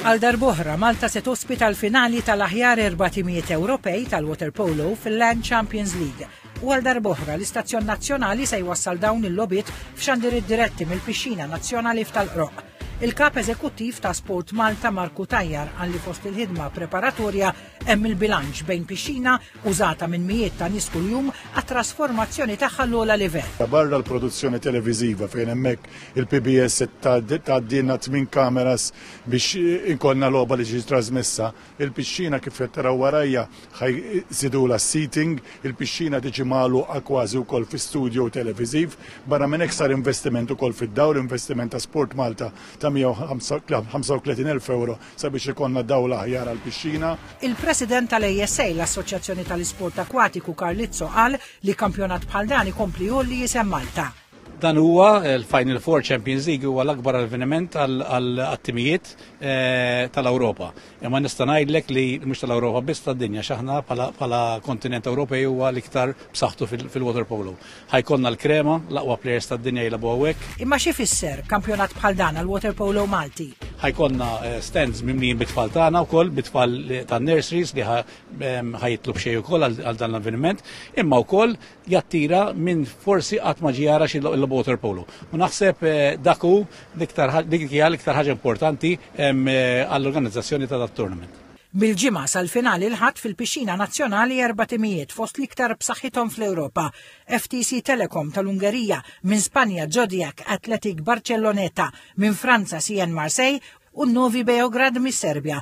Għal darb'oħra, Malta se tospita l-finali tal-aħjar erba' timijiet Ewropej tal-waterpolo fil-Land Champions League. U għal darb'oħra, l-istazzjon nazzjonali se jwassal dawn il-lobit f'xandir id-diretti mill-pixxina nazzjonali f'tal-qroq. Il-kap eżekuttiv ta' Sport Malta Marku Tajjar għalli fost il-ħidma preparatorja Hemm il-bilanċ bejn pixxina użata minn mijiet ta' nies kuljum għat-trasformazzjoni tagħha l-ogħla livell. Barra l-produzzjoni televiżiva fejn hemmhekk il-PBS se tgħaddilna tmien kameras biex ikollna logħba li tiġi trasmessa, il-pixxina kif qed taraw warajja ħa jżidulha s-seating, il-pixxina tiġi magħluqa kważi wkoll fi studio televiżiv. Barra minn hekk sar investiment ukoll fid-dawr, investiment ta' SportMalta ta' 135,000 ewro sabiex ikollna dawl aħjar għall-pixxina. Il-President tal-ASA, l-Assoċjazzjoni tal-Isport Akwatiku Carlizzo qal li kampjonat bħal dan ikompli jgħolli isem Malta. Dan huwa l-Final Four Champions League huwa l-akbar avveniment għall-attimijiet eh, tal-Ewropa. Imma nista' ngħidlek li mhux tal-Ewropa biss tad-dinja x'aħna bħala kontinent Ewropej huwa l-iktar b'saħħtu fil-water polo. Ħa jkollna l-krema, l-aqwa plejers tad-dinja jilagħbu hawnhekk. Imma xi jfisser kampjonat bħal dan għall-waterpolo Malti? Ħa jkollna eh, stands mimlijin bit-tfal tagħna wkoll bit-tfal eh, tan-nurseries li ehm, ħa jitlu b'xejn ukoll għal dan l-avveniment, imma wkoll jattira minn forsi qatt ma ġiara xi l-waterpolo. U naħseb eh, dak hu l-iktar ħaġa importanti ehm, għall-organizzazzjoni ta' dat-tournament. Mill-Ġimgħa sal-finali l-Ħadd fil-Pixxina Nazzjonali erba' timijiet fost l-iktar b'saħħithom fl-Ewropa, FTC Telecom tal-Ungerija, minn Spanja Zodiac Athletic Barcelloneta, minn Franza CN Marseille u Novi Beograd mis-Serbja.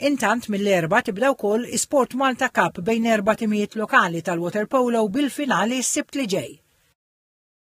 Intant mill-Erbgħa tibda wkoll iSport Malta Cup bejn erba' timijiet lokali tal-Waterpolo bil-finali s-Sibt li ġej.